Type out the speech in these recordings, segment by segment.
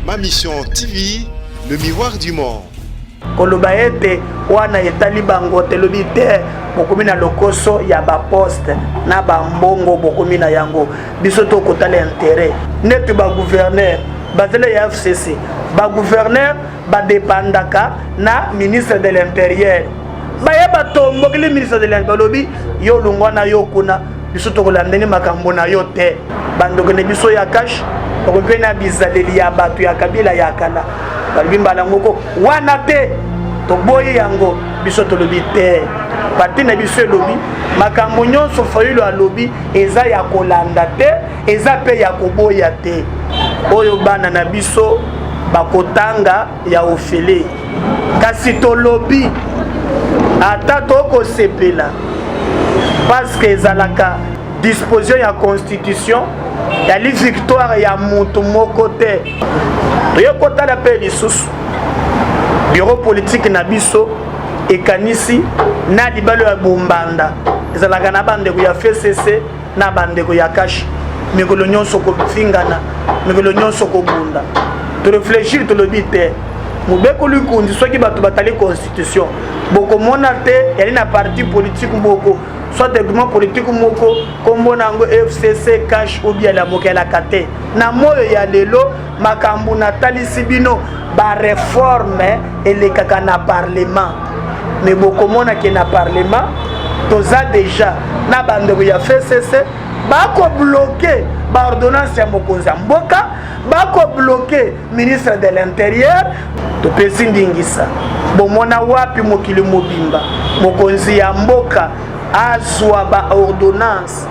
Ma Mission TV, le miroir du monde. koloba ete wana etali bango te lobi te bokomi na lokoso ya baposte na bambongo bokomi na yango biso to kotala intere neti baguverner bazela ya fcc baguverner badepandaka na ministre de l'intérieur baye batombokeli ministre de l'intérieur balobi yo longwa na yo kuna biso tokolandeli makambo na yo te bandoki na biso ya kashe bakomi mpe na bizaleli ya bato ya kabila ya kala balobi mbala moko wana te toboyi yango biso tolobi te parti na biso elobi makambo nyonso fayulu alobi eza ya kolanda te eza mpe ya koboya te oyo bana na biso bakotanga ya ofele kasi tolobi ata tokosepela parceke ezalaka disposition ya constitution yali victoire ya moto moko te toye kotala mpe lisusu biro politike na biso ekanisi na libalo ya bombanda ezalaka na bandeko ya fcc na bandeko ya kashi mikolo nyonso kofingana mikolo nyonso kobunda toreflechir tolobi te mobeko likonzi soki bato batali constitution bokomona te yali na parti politike moko soit groupement politike moko nkombo na yango fcc cash obialamokela kate na moyo ya lelo makambo natalisi bino bareforme elekaka na parlement me bokomona ke na parlement toza deja na bandeko ya fcc bakobloke baordonnance ya mokonzi ya mboka bakobloke ministre de l'interieur topesi ndingisa bomona wapi mokili mobimba mokonzi ya mboka azwa baordonnance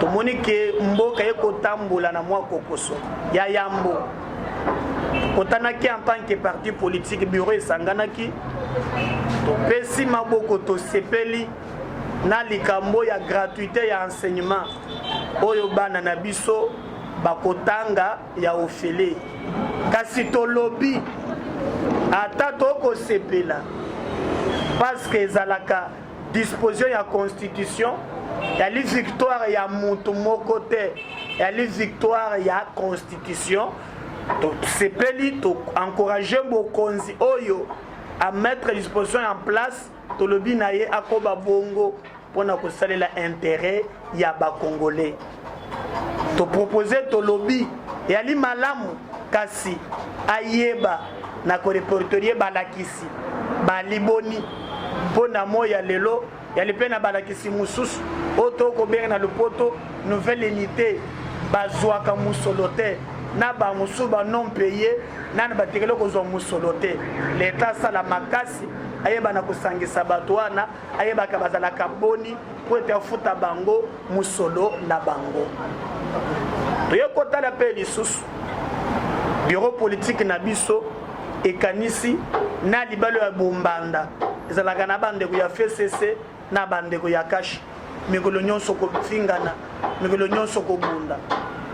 tomoni ke mboka ye kotambola na mwa kokoso ya yambo tokotanaki en tant que parti politique bureau esanganaki topesi maboko tosepeli na likambo ya gratuité ya enseignement oyo bana na biso bakotanga ya ofele kasi tolobi ata tokosepela paske ezalaka disposition ya constitution yali victoire ya mutu moko te yali victoire ya constitution tosepeli to encourage bokonzi oyo a mettre disposition en place tolobi na ye akoba bongo mpo na kosalela intérêt ya ba congolais to proposer tolobi yali malamu kasi ayeba na korepertorie balakisi baliboni mpo na moi ya lelo yali mpe na balakisi mosusu oyo tokobenga na lopoto nouvelle unité bazwaka mosolo te na bamosusu banom paye nani batikali kozwa mosolo te leta asala makasi ayebana kosangisa bato wana ayebaka bazalaka boni mpo ete afuta bango mosolo na bango toye kotala mpe lisusu biro politike na biso ekanisi na libalo ya bombanda ezalaka na bandeko ya fcc na bandeko ya kashi mikolo nyonso kofingana mikolo nyonso kobunda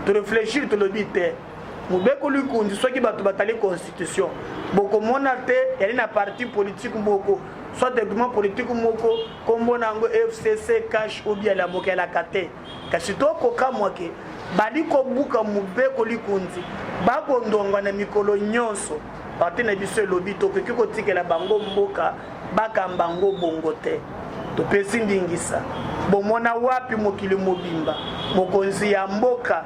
toreflechir tolobi te mobeko likonzi soki bato batali constitution bokomona te yali na parti politike moko soit document politike moko nkombo na yango fcc cash obi alamokelaka te kasi tokokamwa ke bali kobuka mobeko likonzi bakondongwa na mikolo nyonso parti na biso elobi tokoki kotikela bango mboka bakamba yango bongo te topesi ndingisa bomona wapi mokili mobimba mokonzi ya mboka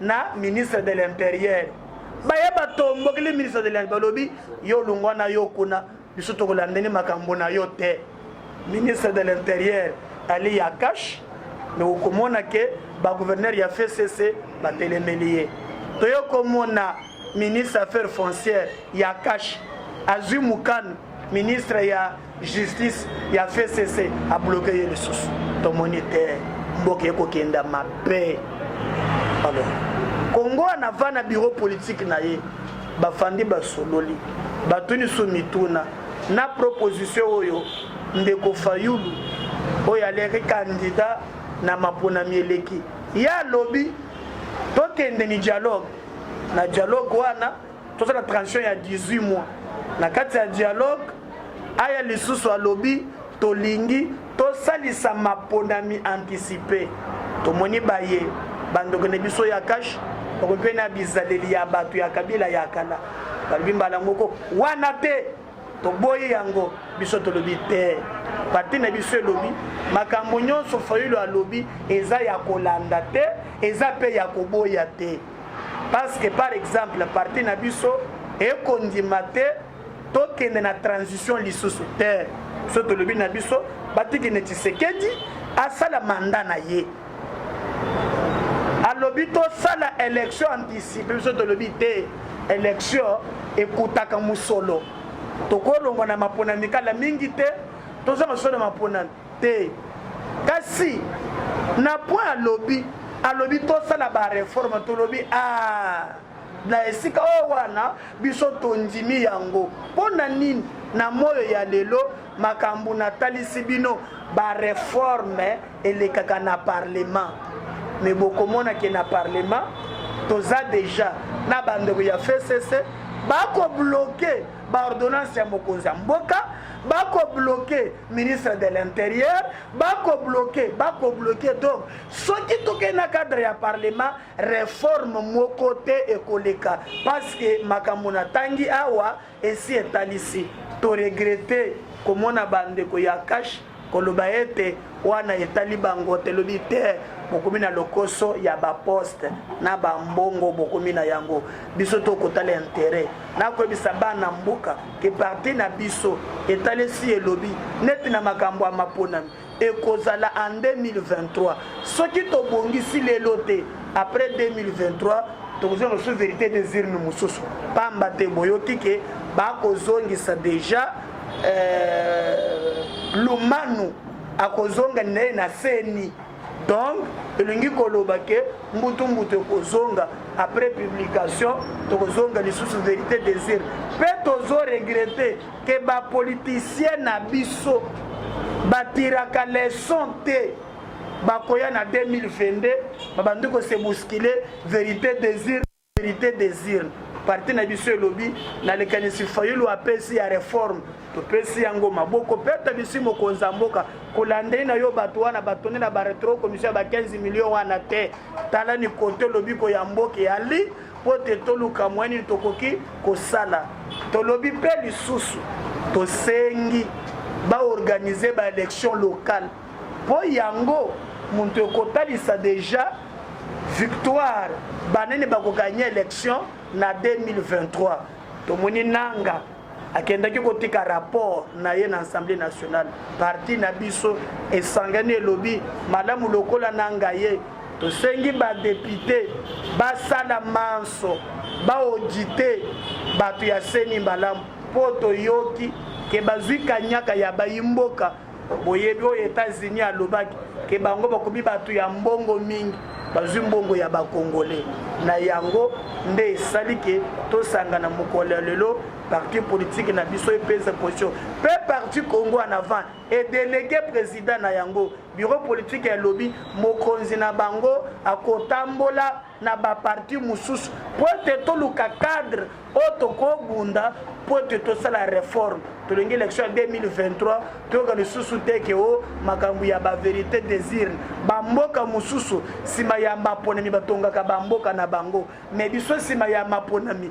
na ministre de l'imperieur baye batombokeli ministre de l'imperieur balobi yo lungwa na yo kuna biso tokolandeli makambo na yo te ministre de l'intérieur ali ya cash me okomona ke bagouverneur ya fcc batelemeli ye toyo komona ministre affaire foncière ya cash azwi mokano ministre ya justice ya fcc abloke ye lisusu tomoni te mboka ekokenda mabe alors kongo wana va na bureau politique na ye bafandi basololi batuni so mituna na proposition oyo ndeko fayulu oyo aleki kandida na maponami eleki ye alobi tokende ni dialogue na dialogue wana tosala transition ya 18 mois na kati ya dialogue aya lisusu alobi tolingi tosalisa maponami anticipe tomoni baye bandoko na biso ya kashe bakomi mpe na bizaleli ya bato ya kabila ya kala balobi mbala moko wana te toboyi yango biso tolobi te pati na biso elobi makambo nyonso fayulu alobi eza ya kolanda te eza mpe ya koboya te parce que par exemple parti na biso ekondima te tokende na transition lisusu te so tolobi na biso batiki neti sekedi asala manda na ye alobi tosala élection anticipe biso tolobi te élection ekutaka mosolo tokolongwa na maponami kala mingi te tozanga solo maponami te kasi na point alobi alobi tosala bareforme tolobi a ah, na esika oyo wana biso tondimi yango mpo na nini na moyo ya lelo makambo natalisi bino bareforme elekaka na parlement me bokomona ke na parlement toza deja na bandeko ya fcc bakobloke baordonnance ya mokonzi ya mboka bakobloke ministre de l'interieur bakobloke bakobloke donc soki tokei na cadre ya parlement reforme moko te ekoleka parce que makambo natangi awa esi etalisi toregrete komona bandeko ya kashe Koloba ete wana etali bango te lobi te bokomi na lokoso ya baposte na bambongo bokomi na yango biso tokotala intere na koyebisa bana mboka ke parti na biso etalesi elobi neti na makambo ya maponami ekozala en 2023 soki tobongisi lelo te après 2023 tokozwa mosusu verité des urnes mosusu pamba te boyoki ke bakozongisa deja euh, lumanu akozonga naye na seni donc elingi koloba ke mbutu mbutu ekozonga après publication tokozonga lisusu verité désir mpe tozo regrete ke bapoliticien na biso batiraka leson te bakoya na 2022 babandi kose boskile verité désir verite desir parti na biso elobi na likanisi fayulu apesi ya reforme topesi yango maboko mpe atabisi mokonzi ya mboka kolandei na yo bato wana batondi na baretro commission ya ba 15 million wana te tala ni kote lobiko ya mboka eyali mpo ete toluka mwa nini tokoki kosala tolobi mpe lisusu tosengi baorganize baélection locale mpo yango moto ekotalisa deja victoire banene bakoganye election na 2023 tomoni nanga akendaki kotika rapport na ye na assemblée nationale parti na biso esangani elobi malamu lokola nanga ye tosengi badepute basala manso baodite bato ya seni malamu mpo toyoki ke bazwi kanyaka ya bayi mboka boyebi oyo Etats-Unis alobaki ke bango bakomi bato ya mbongo mingi bazwi mbongo ya bakongole na yango nde esali ke tosangana mokolo ya lelo parti politike na biso epesa position mpe parti congo en avant edelege président na yango bureau politike elobi mokonzi na bango akotambola na baparti mosusu mpo ete toluka cadre oyo tokobunda mpo ete tosala reforme tolingi élection ya 2023 toyoka lisusu te ke o makambo ya baverité désirne bamboka mosusu nsima ya maponami batongaka bamboka na bango me biso nsima ya maponami